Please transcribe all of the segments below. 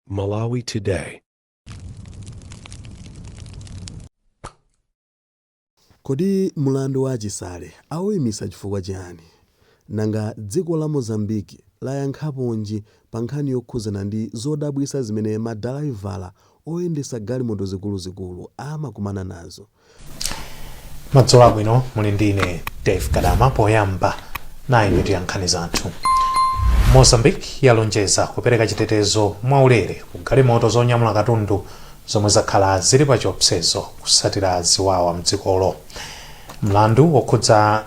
Malawi Today. Kodi mlandu wa a Chisale auimitsa chifukwa chiyani? Nanga dziko la Mozambique layankhaponji pa nkhani yokhudzana ndi zodabwitsa zimene madalaivala oyendetsa galimoto zikuluzikulu amakumana nazo? madzulo abwino muli ndi ine dave kadama poyamba nayi mitu ya nkhani zathu mozambique yalonjeza kupereka chitetezo mwaulere ku galimoto zonyamula katundu zomwe zakhala zili pa chiopsezo kusatira ziwawa mdzikolo mlandu wokhudza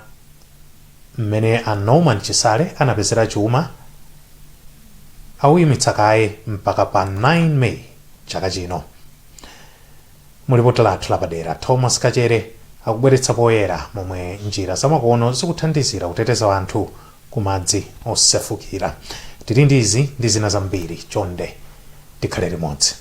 mmene a norman chisale anapezera chuma awuyimitsa kaye mpaka pa 9 may chaka chino Mu lipoti lathu lapadera, Thomas Kachere akubweretsa poyera momwe njira zamakono zikuthandizira kuteteza anthu ku madzi osefukira. Tili ndi izi ndi zina zambiri, chonde tikhale limodzi.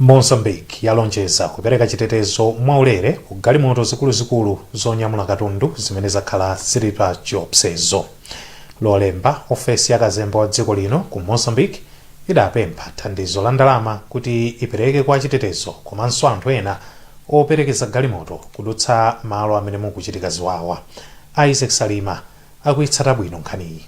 mozambique yalonjeza kupereka chitetezo mwaulere ku galimoto zikuluzikulu zonyamula katundu zimene zakhala zili pa chiopsezo lolemba ofesi ya kazembe wa dziko lino ku mozambique idapempha thandizo la ndalama kuti ipereke kwa achitetezo komanso anthu ena operekeza galimoto kudutsa malo amene mukuchitika ziwawa. Isaac Salima akuitsata bwino nkhaniyi.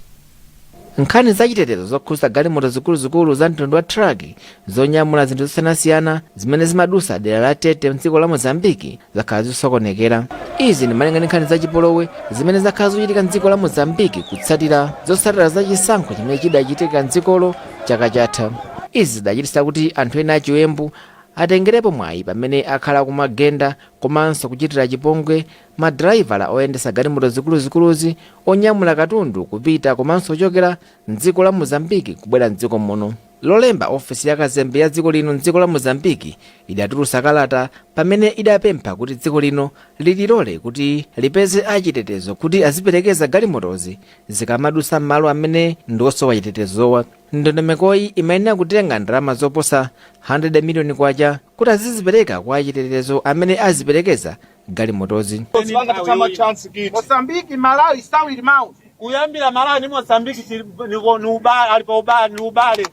Nkhani za chitetezo zokhudza galimoto zikuluzikulu za mtundu wa truck zonyamula zinthu zosiyanasiyana zimene zimadusa dera la Tete mdziko la Mozambique zakhala zikusokonekera. Izi ndi malinga ndi nkhani za chipolowe zimene zakhala zikuchitika mdziko la Mozambique kutsatira zotsatira za chisankho chimene chidachitika mdzikolo chaka chatha. Izi zidachititsa kuti anthu ena achiwembu atengerepo mwayi pamene akhala akuwagenda komanso kuchitira chipongwe madalaivala oyendetsa galimoto zikuluzikuluzi onyamula katundu kupita komanso kuchokera m'dziko la Mozambique kubwera m'dziko muno. Lolemba, ofesi ya kazembe ya dziko lino m'dziko la Mozambique idatulutsa kalata pamene idapempha kuti dziko lino lililole kuti lipeze a chitetezo kuti aziperekeza galimotozi zikamadutsa m'malo amene ndi osowa chitetezowa. ndondomekoyi imayenera kutenga ndalama zoposa 100 miliyoni kwacha kuti azizipereka kwa achitetezo amene aziperekeza galimotozi kuyambira malawi ni mozambiki ni ubale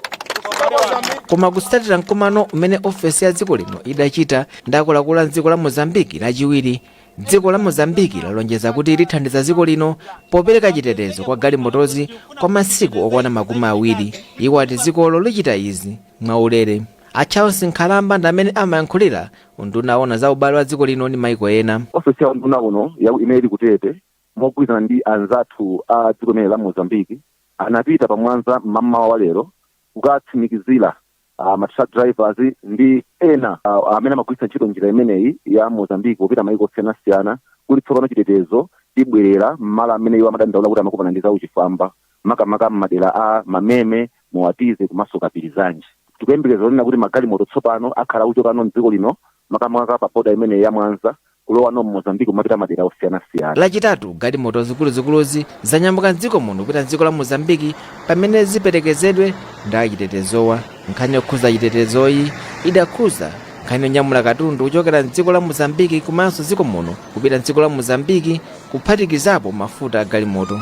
koma kusatira mkumano umene ofesi ya dziko lino idachita ndi akuluakulu a dziko la mozambiki lachiwiri dziko la mozambiki lalonjeza kuti lithandiza dziko lino popereka chitetezo kwa galimotozi kwa masiku okwana makumi awiri iwo ati dzikolo lichita izi mwaulere a charles nkhalamba ndi amene amayankhulira unduna owona za ubale wa dziko lino ndi maiko ena ofesi ya unduna uno ya- imene ili ku tete mogwirizana ndi anzathu a dziko limeneli la mozambiki anapita pa mwanza mmamawa wa lero kukatsimikizira uh, ma truck drivers ndi ena uh, amene amagwiritsa ntchito njira imeneyi ya mozambique popita maiko osiyanasiyana kuti tsopano chitetezo chibwerera mmalo amene iwo amadandaula kuti amakumana ndi zauchifwamba makamaka mmadera a mameme moatize komanso kapirizanji tikuyembekeza kunena kuti magalimoto tsopano akhala akuchoka muno mdziko lino makamaka pa boda imeneyi ya mwanza kulowa mu Mozambique kumapita madera osiyanasiyana. Lachitatu galimoto zikuluzikuluzi zanyamuka m'dziko muno kupita m'dziko la Mozambique pamene ziperekezedwe ndi achitetezowa. Nkhani yokhuza chitetezoyi idakhuza nkhani yonyamula katundu kuchokera m'dziko la Mozambique komanso dziko muno kupita m'dziko la Mozambique kuphatikizapo mafuta a galimoto.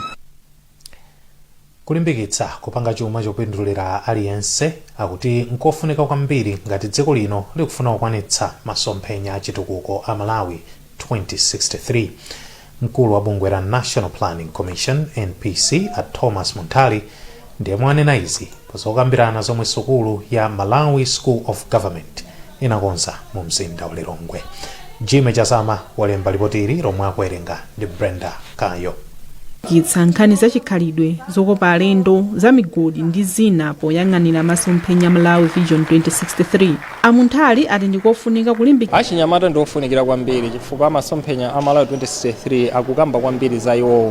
Kulimbikitsa kupanga chuma chopindulira aliyense akuti nkofunika kwambiri ngati dziko lino likufuna kukwanitsa masomphenya a chitukuko a Malawi 2063. Mkulu wa bungwe la National Planning Commission, NPC, a Thomas Munthali ndi yemwe wanena izi. Pozokambirana zomwe sukulu ya Malawi School of Government inakonza mu mzinda wa Lilongwe. Jimmy Chazama walemba lipoti ili lomwe akuwerenga ndi Brenda Kayo. kitsa nkhani za chikhalidwe zokopa alendo za migodi ndi zina poyang'anira masomphenya malawi vision 2063 amunthali ati ndikofunika kulimbikitsa achinyamata ndi ofunikira kwambiri chifukwa masomphenya a malawi 2063 akukamba kwambiri za iwowo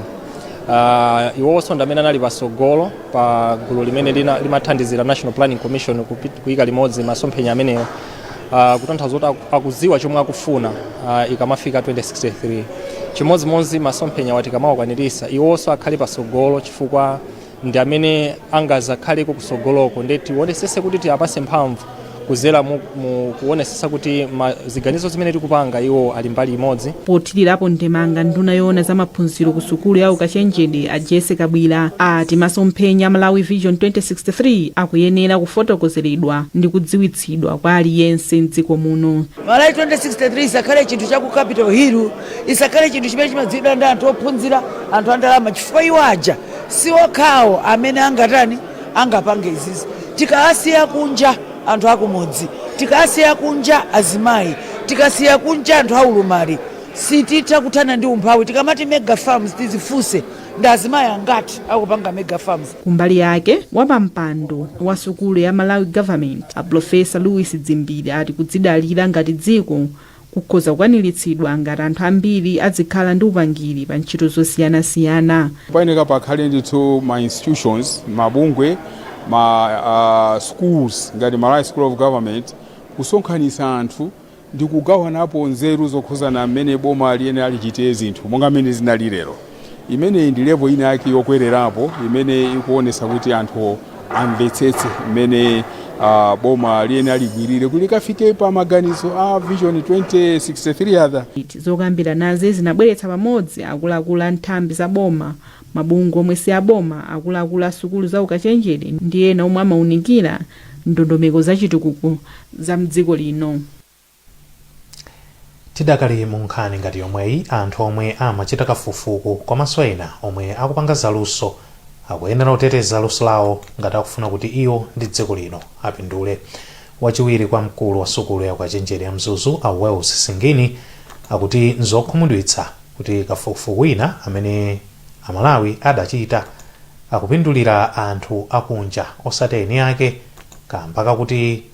uh, iwowonso ndi amene anali patsogolo pa gulu limene lina- limathandizira national planning commission kupi- kuyika limodzi masomphenya amenewa uh, kutanthauza kuti aku- akudziwa chomwe akufuna uh, ikamafika 2063 chimodzimodzi masomphenyawa tikamawakwaniritsa iwonso akhale pasogolo chifukwa ndi amene angazakhaleko kusogoloko nde tionesese kuti tiapase mphamvu kuzera mu, mu kuonesesa kuti ma, ziganizo zimene tikupanga iwo ali mbali imodzi pothirirapo ndemanga nduna yoona za maphunziro ku sukulu ya ukachenjede a jessie kabwira ati masomphenya a malawi vision 2063 akuyenera kufotokozeredwa ndi kudziwitsidwa kwa aliyense mdziko muno malawi 2063 isakhale chinthu cha ku capital hill isakhale chinthu chimene chimadziwidwa ndi anthu ophunzira anthu andalama chifukwa iwo aja si okhawo amene angatani angapange izizi tikasiya kunja anthu akumudzi tikasiya kunja azimayi tikasiya kunja anthu aulumali sititha kuthana ndi umphawi tikamati mega farms tizifunse ndi azimayi angati akupanga mega farms kumbali yake wapampando wa sukulu ya Malawi Government a profesa Lewis Dzimbiri ati kudzidalira ngati dziko kukhoza kukwaniritsidwa ngati anthu ambiri adzikhala ndi upangiri pa ntchito zosiyanasiyana. Payeneka pakhale ndithu ma institutions, mabungwe, ma schools ngati Malawi School of Government kusonkhanitsa anthu ndikugawanapo nzeru zokhuzana mmene boma liyenera lichite zinthu monga mmene zinali lero. Imeneyi ndi level ina yake yokwererapo imene ikuonetsa kuti anthu amvetsetse mmene ah, boma liyenera ligwirire kuti likafike pa maganizo a vision 2063 agenda Zokambiranazi zinabweretsa pamodzi akuluakulu a nthambi za boma, mabungwe omwe si aboma, akuluakulu a sukulu za ukachenjede ndi ena omwe amaunikira ndondomeko za chitukuko za m'dziko lino. Tidakali mu nkhani ngati yomweyi, anthu omwe amachita kafukufuku komaso ena omwe akupanga za luso akuyenera kuteteza luso lawo ngati akufuna kuti iwo ndi dziko lino apindule. Wachiwiri kwa mkulu wa sukulu ya ukachenjede ya Mzuzu a Wales Singini akuti nzokhumudwitsa kuti kafukufuku wina amene a Malawi adachita akupindulira anthu akunja osati eni ake kamba kakuti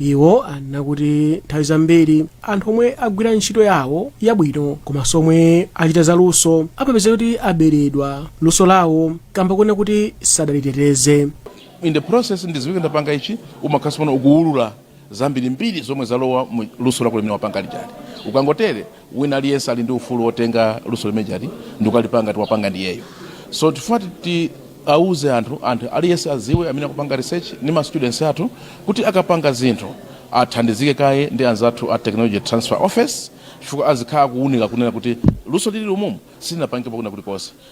iwo anena kuti nthawi zambiri anthu omwe agwira ntchito yawo yabwino komanso omwe achita zaluso amapeza kuti aberedwa luso lawo kamba koona kuti sadaliteteze in the process ndiziwike ndapanga ichi umakhala tsono ukuwulula zambirimbiri zomwe zalowa mu luso lako limene wapanga lijali ukangotere wina aliyense ali ndi ufulu wotenga luso limene lija ndikukalipanga ngati wapanga ndiyeyo so tifuna tiwauze anthu anthu aliyense aziwe amene akupanga research ndi ma students athu kuti akapanga zinthu athandizike kaye ndi anzathu a technology transfer office chifukwa azikhala akuunika kunena kuti luso lili umumu silinapangidwepo kwina kulikonse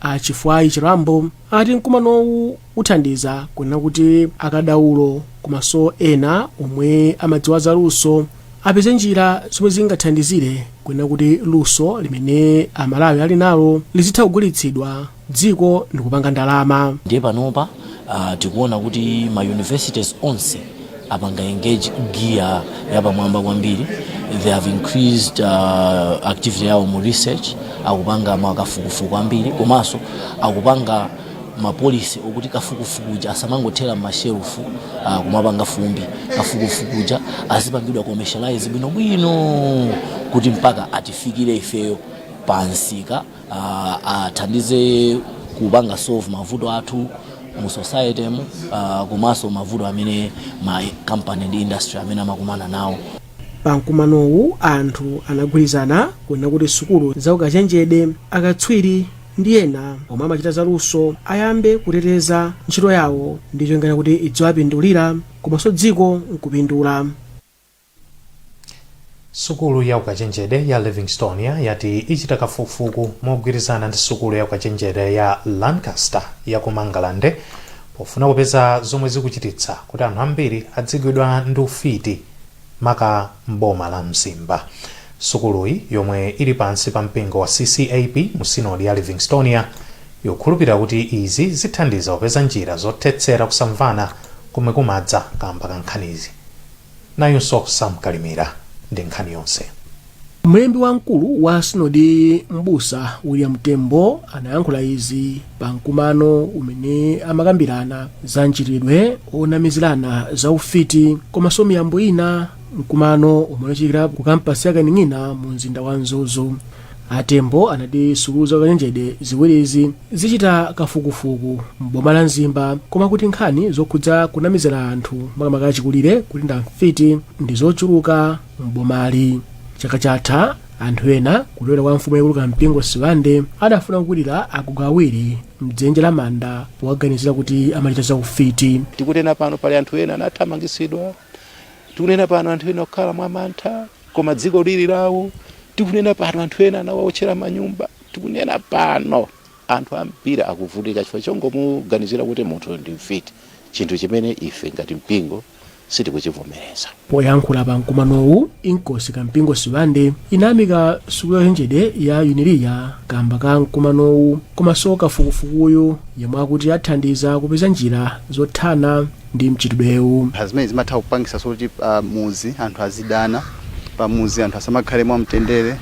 a Chifwayi Chirambo ati mkumanowu uthandiza kunena kuti akadaulo komanso ena omwe amadziwa za luso apeze njira zomwe zingathandizire kunena kuti luso limene aMalawi ali nalo lizitha kugulitsidwa dziko ndikupanga ndalama ndiye panopa uh, tikuona kuti ma universities onse apanga engage gear yapamwamba kwambiri they have increased uh, activity yawo mu research akupanga makafukufuku ambiri komanso akupanga mapolisi okuti kafukufuku uja asamangothera m'mashelufu uh, kumapanga fumbi kafukufuku uja azipangidwa commercialize bwinobwino kuti mpaka atifikire ifeyo pamsika athandize kupanga solve mavuto athu mu society mu uh, komanso mavuto amene ma company ndi industry amene amakumana nawo pa mkumanowu anthu anagwirizana kunena kuti sukulu za ukachenjede akatswiri ndi ena omwe amachita zaluso ayambe kuteteza ntchito yawo ndi cholinga kuti idziwapindulira komanso dziko nkupindula Sukulu ya ukachenjede ya Livingstonia yati ichita kafukufuku mogwirizana ndi sukulu ya ukachenjede ya Lancaster ya ku Mangalande pofuna kupeza zomwe zikuchititsa kuti anthu ambiri adzigwidwa ndi ufiti maka m'boma la Mzimba. Sukuluyi yomwe ili pansi pa mpingo wa CCAP mu sinodi ya Livingstonia ikukhulupirira kuti izi zithandiza kupeza njira zothetsera kusamvana komwe kumadza kamba ka nkhanizi. Nayo Sam Kalimira ndi nkhani yonse. Mlembi wamkulu wa sinodi m'busa William Tembo anayankhula izi pa mkumano umene amakambirana za mchitidwe onamizirana za ufiti komanso miyambo ina mkumano umene unachitikira ku kampasi ya Kaning'ina mu mzinda wa Mzuzu. a tembo anati sukulu za ukachenjede ziwirizi zichita kafukufuku m'boma la mzimba koma kuti nkhani zokhudza kunamizira anthu makamaka achikulire kuti ndi amfiti ndi zochuluka m'bomali chaka chatha anthu ena kutoera kwa mfumu yaikulu kampingo sibande adafuna kukwirira agogo awiri mdzenje la manda powaganizira kuti amachita za ufiti tikunena pano pali anthu ena anathamangitsidwa tikunena pano anthu ena akukhala mwamantha Koma dziko lili lawo. Tikunena pano anthu ena anawaotchera manyumba. Tikunena pano anthu ambiri akuvutika chifukwa chongomuganizira kuti munthu ndi mfiti, chinthu chimene ife ngati mpingo sitikuchivomereza. Poyankhula pa mkumanowu, Inkosi Kampingo Sibande inayamika sukulu ya ukachenjede ya Unilia kamba ka mkumanowu komanso kafukufukuyu yemwe akuti athandiza kupeza njira zothana ndi mchitidwewu. Zimene zimatha kupangitsanso kuti pamudzi anthu azidana, pamudzi anthu asamakhale mwamtendere,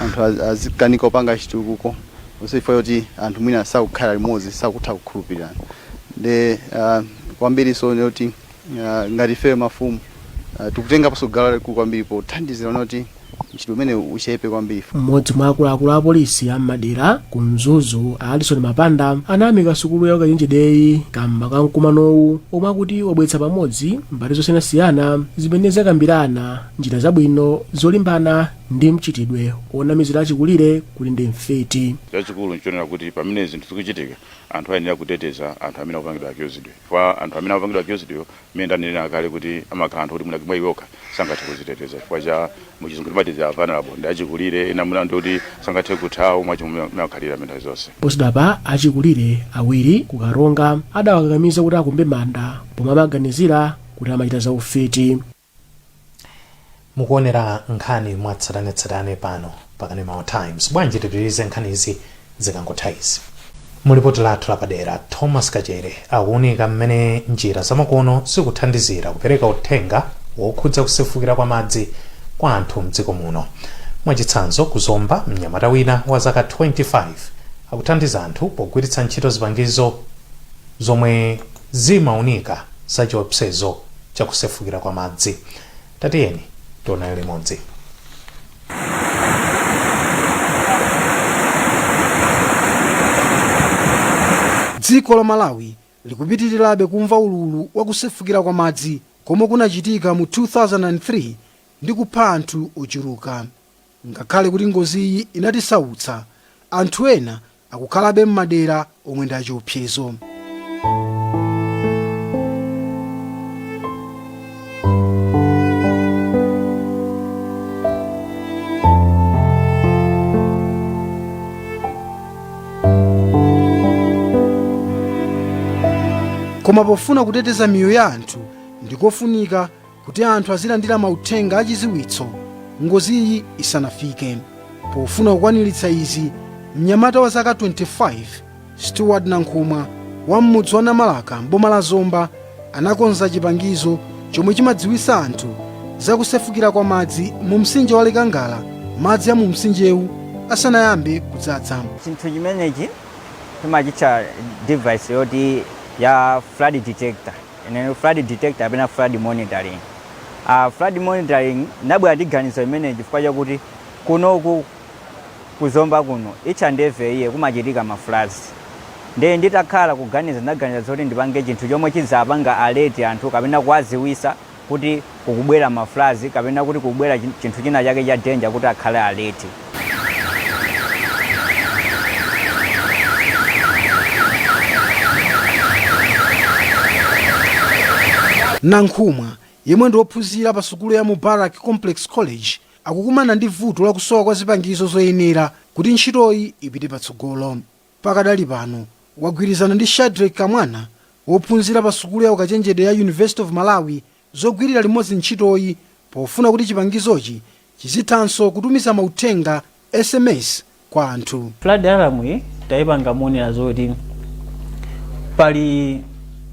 anthu azikanika kupanga chitukuko zonse chifukwa choti anthu mwina sakukhala limodzi, sakutha kukhulupirirana. Nde kwambiriso kunena kuti ngati ifeyo mafumu tikutengaponso gawo lalikulu kwambiri pothandizira kunena kuti. mchitidwe umenewu uchepe kwambiri. mmodzi mwa akuluakulu a polisi a m'madera ku mzuzu a alison mapanda anayamika sukulu ya ukachenjedeyi kamba ka mkumanowu omwe akuti wabweretsa pamodzi mbali zosiyanasiyana zimene zakambirana njira zabwino zolimbana ndi mchitidwe onamizira achikulire kuti ndi mfiti chachikulu nchonena kuti pamene zinthu zikuchitika anthu ayenera kuteteza anthu amene akupangidwa accused wa kwa anthu amene akupangidwa accused wa Mmene ndanenena kale kuti amakhala anthu oti mwina mwa iwo okha sangathe kuziteteza chifukwa cha mu chizungu timati they are vulnerable ndi achikulire ena mwina ndi oti sangathe kuthawa mwa chomwe mmene amakhalira nthawi zonse. Posachedwapa achikulire awiri ku Karonga adawakakamiza kuti akumbe manda pomwe amaganizira kuti amachita za ufiti. Mukuonera nkhani mwatsatanetsatane pano pa Kanema Times. Bwanji tipitirize nkhanizi zikangotha izi? Mu lipoti lathu lapadera, Thomas Kachere akuunika mmene njira zamakono zikuthandizira kupereka uthenga wokhudza kusefukira kwa madzi kwa anthu m'dziko muno. Mwachitsanzo, ku Zomba, mnyamata wina wa zaka 25 akuthandiza anthu pogwiritsa ntchito zipangizo zomwe zimaunika za chiopsezo cha kusefukira kwa madzi. Tatiyeni tionane limodzi. Dziko la Malawi likupitirirabe kumva ululu wa kusefukira kwa madzi komwe kunachitika mu 2003 ndi kupha anthu ochuluka. Ngakhale kuti ngoziyi inatisautsa, anthu ena akukhalabe m'madera omwe ndi achiopsezo. Koma pofuna kuteteza miyoyo ya anthu, ndikofunika kuti anthu azilandira mauthenga achiziwitso ngoziyi isanafike. Pofuna kukwaniritsa izi, mnyamata wa zaka 25 Stewart Nankhumwa wa m'mudzi wa Namalaka m'boma la Zomba anakonza chipangizo chomwe chimadziwitsa anthu za kusefukira kwa madzi mu mtsinje wa Likangala madzi a mu mtsinjewu asanayambe kudzadza. chinthu chimenechi timachitcha device yoti ya flood detector Inene flood detector kapena flood monitoring. Uh, flood monitoring ndinabwera ndi ganizo limeneli chifukwa chakuti kunoku ku Zomba kuno each and every year kumachitika ma floods ndiye nditakhala kuganiza ndaganiza zoti ndipange chinthu chomwe chizapanga alert anthu kapena kuwaziwisa kuti kukubwera ma floods kapena kuti kukubwera chi- chinthu china chake cha danger kuti akhale alert nankhumwa yemwe ndi wophunzira pa sukulu ya mubarak complex college akukumana ndi vuto la kusowa kwa zipangizo zoyenera kuti ntchitoyi ipite patsogolo pakadali pano wagwirizana ndi shadreck kamwana wophunzira pa sukulu ya ukachenjede ya university of malawi zogwirira limodzi ntchitoyi pofuna kuti chipangizochi chizithanso kutumiza mauthenga, sms, kwa anthu. Flood alarm iyi taipanga moonera zoti pali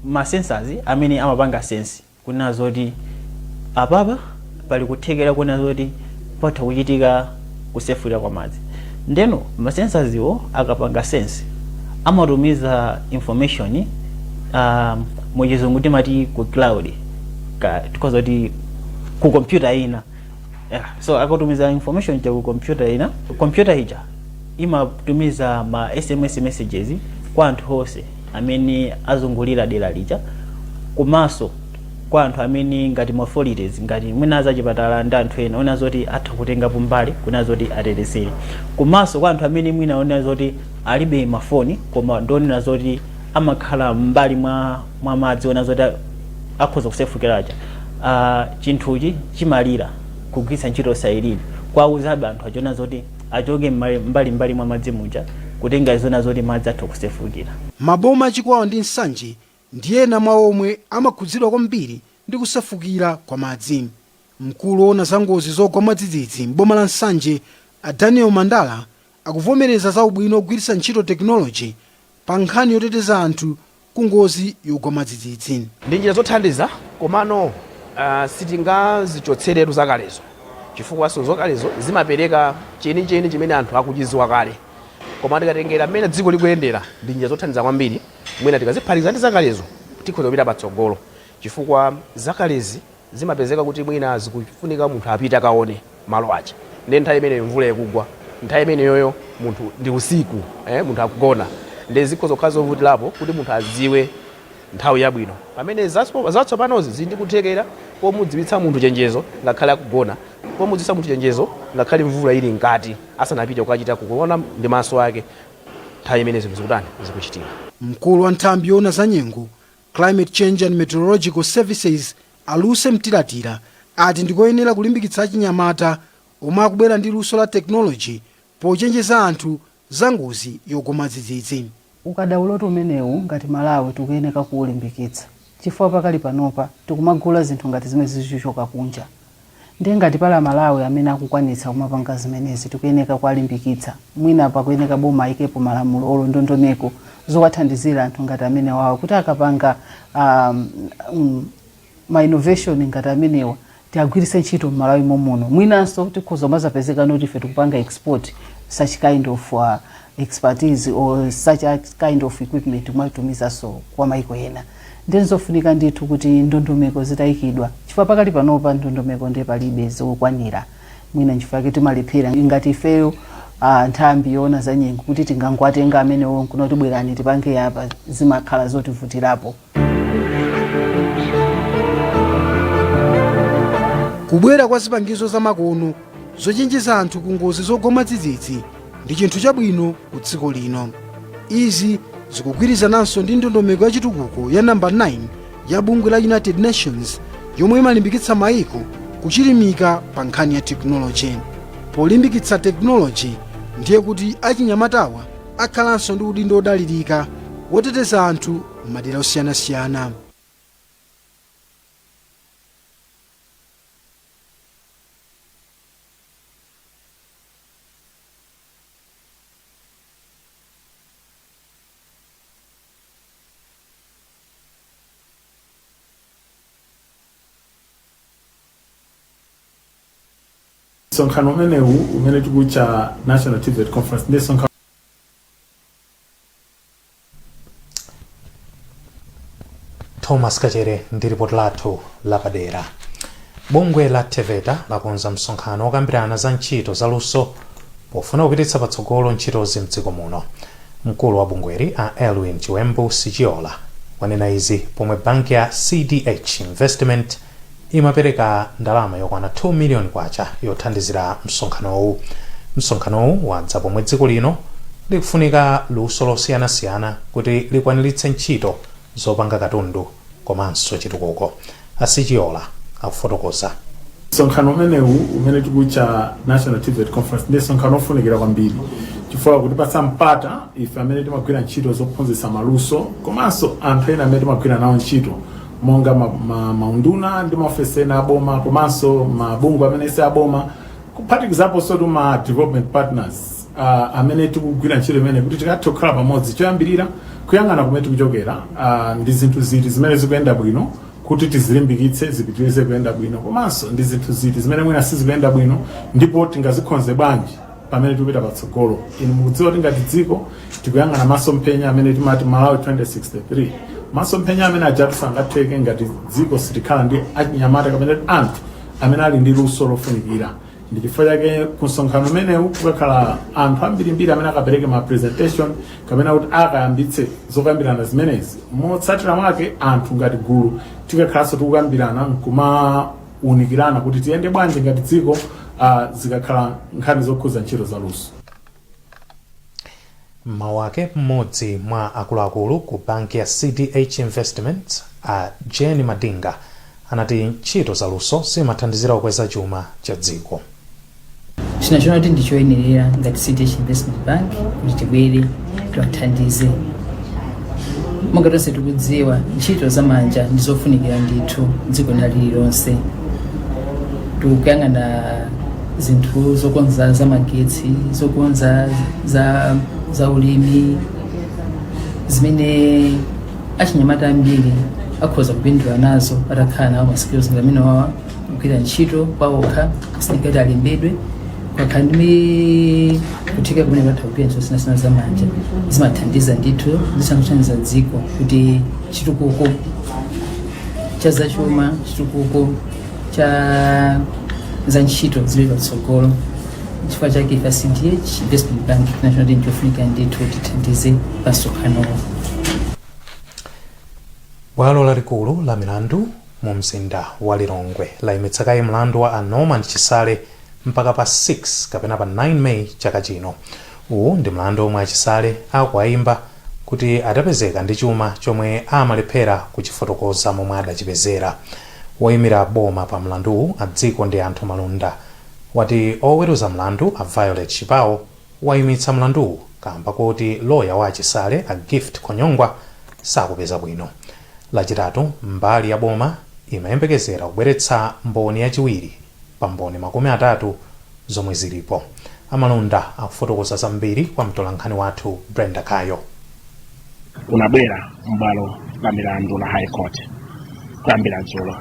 ma sensors amene amapanga sense kuwona zoti apapa pali kuthekera koona zoti patha kuchitika. kusefukira kwa madzi ndeno ma sensors iwo akapanga sense amatumiza information um, muchizungu timati ku cloud tikhoza kuti ku computer ina yeah. so akatumiza information ija ku computer ina computer ija imatumiza ma sms messages kwa anthu onse amene azungulira dera lija komanso kwa anthu amene ngati ma authorities ngati mwina azachipatala ndi anthu ena onena zoti atha kutengapo mbali kunena zoti atetezere komanso kwa anthu amene mwina onena zoti alibe mafoni koma ndi onena zoti amakhala m'mbali mwa, mwa madzi onena zoti a- akhoza kusefukira aja uh, chinthuchi chimalira kugwiritsa ntchito siren kuwauzabe anthu aja kunena zoti achoke m'mbali- mbalimbali mwa madzi muja kutengera zonena zoti madzi atha kusefukira Maboma a Chikwawa ndi Nsanje ndi ena mwa omwe amakhudzidwa kwambiri ndi kusefukira kwa madzi. Mkulu owona za ngozi zogwa mwadzidzidzi m'boma la Nsanje a Daniel Mandala akuvomereza za ubwino ogwiritsa ntchito technology pa nkhani yoteteza anthu ku ngozi yogwa mwadzidzidzi. Ndi njira zothandiza komano sitingazichotseretu zakalezo chifukwanso zakalezo zimapereka chenicheni chimene anthu akuchidziwa kale koma tikatengera mmene dziko likuyendera ndi njira zothandiza kwambiri. Mwina tikaziphatikiza ndi zakalezo tikhoza kupita patsogolo chifukwa zakalezi zimapezeka kuti mwina zikufunika munthu apite akaone malo aja ndiye nthawi imeneyo mvula ikugwa, nthawi imeneyoyo munthu ndi usiku, munthu akugona ndiye zikhoza kukhala zovutirapo kuti munthu adziwe nthawi yabwino. Pamene zatsopanozi zili ndi kuthekera pomudziwitsa munthu chenjezo ngakhale akugona, pomudziwitsa munthu chenjezo ngakhale mvula ili mkati asanapite kukachita kuona ndi maso ake. nthawi imene zinthu zikutani, zikuchitika. Mkulu wa nthambi yoona za nyengo, Climate Change and Meteorological Services, a Lucy Mtilatila ati ndi koyenera kulimbikitsa achinyamata omwe akubwera ndi luso la technology pochenjeza anthu za ngozi yogwa mwadzidzidzi. Ukadaulotu umenewu ngati Malawi tikuyeneka kuulimbikitsa. chifukwa pakali panopa tikumagula zinthu ngati zimenezi zikuchoka kunja nde ngati pali amalawi amene akukwanitsa kumapanga zimenezi tikuyeneka kuwalimbikitsa mwina pakuyeneka boma ayikepo malamulo olo ndondomeko zowathandizira anthu ngati amenewawa kuti akapanga ma innovation ngati amenewa tiagwiritse ntchito mmalawi mommuno mwinanso tikhoza kumazapezeka noti ife tikupanga export such kind of uh, expertise or such a kind of equipment kumatumizanso kwa maiko ena ndinzofunika ndithu kuti ndondomeko zitayikidwa chifukwa pakadali panopa ndondomeko ndiye palibe zokwanira mwina nchifukwa yake timalephera ngati ifeyo uh, nthambi yoona za nyengo kuti tingangwatenga amenewo nkuti bwerani tipange apa zimakhala zotivutirapo kubwera kwa zipangizo zamakono zochenjeza anthu ku ngozi zogwa mwadzidzidzi ndi chinthu chabwino ku dziko lino izi zikugwirizananso ndi ndondomeko ya chitukuko ya namba 9 ya bungwe la united nations yomwe imalimbikitsa maiko kuchilimika pa nkhani ya tekinoloji polimbikitsa tekinoloji ndiye kuti achinyamatawa akhalanso ndi udindo wodalirika woteteza anthu m'madera osiyanasiyana. Msonkhano umenewu umene tikuutcha National TVET Conference ndi msonkhano thomas kachere ndi lipoti lathu lapadera bungwe la teveta lakonza msonkhano wokambirana za ntchito za luso pofuna kupititsa patsogolo ntchitozi mdziko muno mkulu wa bungweli a elwin chiwembu sichiola wanena izi pomwe banki ya cdh investment imapereka ndalama yokwana K2 miliyoni yothandizira msonkhanowu. Msonkhanowu wadza pomwe dziko lino likufunika luso losiyanasiyana kuti likwaniritse ntchito zopanga katundu komanso chitukuko, a Sichiola akufotokoza. Msonkhano umenewu umene tikuwutcha National TVET Conference ndi msonkhano wofunikira kwambiri chifukwa ukutipatsa mpata ife amene timagwira ntchito zophunzitsa maluso komanso anthu ena amene timagwira nawo ntchito monga ma, ma, maunduna ndi maofesi ena aboma komanso mabungwe amene si aboma kuphatikizaponsotu ma development partners uh, amene tikugwira ntchito imeneyi kuti tikathe kukhala pamodzi choyambirira kuyang'ana kumene tikuchokera uh, ndi zinthu ziti zimene zikuyenda bwino kuti tizilimbikitse zipitirize kuyenda bwino komanso ndi zinthu ziti zimene mwina sizikuyenda bwino ndipo tingazikonze bwanji pamene tikupita patsogolo inu mukudziwa kuti ngati dziko tikuyang'ana masomphenya amene timati malawi 2063 masomphenya amene ajatu sangatheke ngati dziko sitikhala ndi achinyamata kapena kuti anthu amene ali ndi luso lofunikira ndi chifukwa chake ku msonkhano umenewu kukakhala anthu ambirimbiri amene akapereke ma presentation kapena kuti akayambitse zokambirana zimenezi motsatira mwake anthu ngati gulu tikakhalanso tikukambirana nkuma kuunikirana kuti tiyende bwanji ngati dziko ah, zikakhala nkhani zokhudza ntchito za luso mmawu ake mmodzi mwa akuluakulu ku banki ya cdh investments a jane madinga anati ntchito zaluso zimathandizira kukweza chuma cha dziko chinachona kuti ndi choyenerera ngati cdh investment bank kuti tibwere tiwathandize monga tonse tikudziwa ntchito za manja ndi zofunikira ndithu dziko lina lililonse tikuyang'ana zinthu zokonza za magetsi zokonza za, za ulimi zimene achinyamata ambiri akhoza kupindula nazo atakhala nawo ma skills ngati amene wawa kugwira ntchito kwaokha sikuti alembedwe akhala ndi kutheka kumene kwatha kugwira ntchito sinasina za manja zimathandiza ndithu zisanothandiza dziko kuti chitukuko cha zachuma chitukuko cha za ntchito zili patsogolo chifukwa chake ife cdh investment bank national team chofunika ndithu tithandize pamsonkhanowo bwalo lalikulu la milandu mu mzinda wa Lilongwe layimitsa kaye mlandu wa a Norman Chisale mpaka pa 6 kapena pa 9 May chaka chino. Uwu ndi mlandu omwe a Chisale akuwayimba kuti adapezeka ndi chuma chomwe amalephera kuchifotokoza momwe adachipezera. Woyimira boma pa mlanduwu a Dzikondianthu Malunda wati oweruza mlandu a Violet Chipao waimitsa mlanduwu kamba kuti loya wa a Chisale, a Gift Khonyongwa, sakupeza bwino. Lachitatu, mbali ya boma imayembekezera kubweretsa mboni yachiwiri pa mboni makumi atatu zomwe zilipo. A Malunda akufotokoza zambiri kwa mtolankhani wathu Brenda Kayo. unabwera m'bwalo la milandu la high court kuyambira dzulo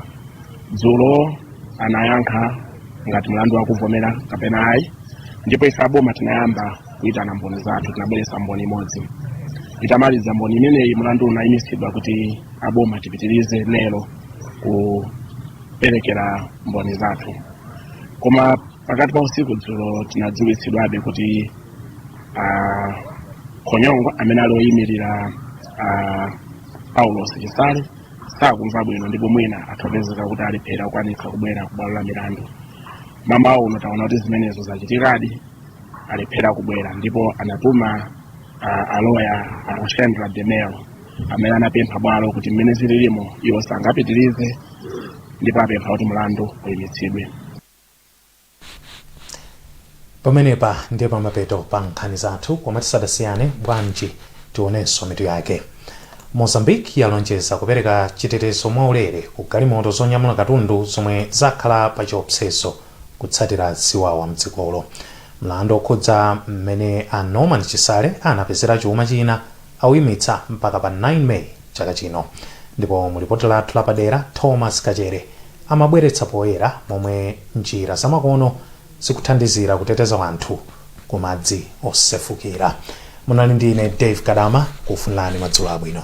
dzulo anayankha ngati mlandu akuvomera kapena ayi ndipo ife aboma tinayamba kuyitana mboni zathu tinabweretsa mboni imodzi itamaliza mboni imeneyi mlandu unayimitsidwa kuti aboma tipitirize lero kuperekera mboni zathu koma pakati pa usiku dzulo tinadziwitsidwabe kuti a khonyongwa amene ali oyimirira a paulos chisale sakumva bwino ndipo mwina atha kupezeka kuti alephera kukwanitsa kubwera ku bwalo la milandu mmawa uno taona kuti zimenezo zachitikadi alephera kubwera ndipo anatuma ah, aloya akushendra demel amene anapempha bwalo kuti mmene zililimo iwo sangapitirize ndipo apempha kuti mlandu uyimitsidwe pamenepa ndiye pamapeto pa nkhani zathu koma tisadasiyane bwanji tionenso mitu yake mozambique yalonjeza kupereka chitetezo mwaulere ku galimoto zonyamula katundu zomwe zakhala pa chiopsezo kutsatira ziwawa mdzikolo mlandu okhudza mmene a norman chisale anapezera chuma chinayake auyimitsa mpaka pa 9 may chaka chino. Ndipo mu lipoti lathu lapadera, Thomas Kachere amabweretsa poyera momwe njira zamakono zikuthandizira kuteteza wanthu ku madzi osefukira. Munali ndi ine Dave Kadama kufunirani madzulo abwino.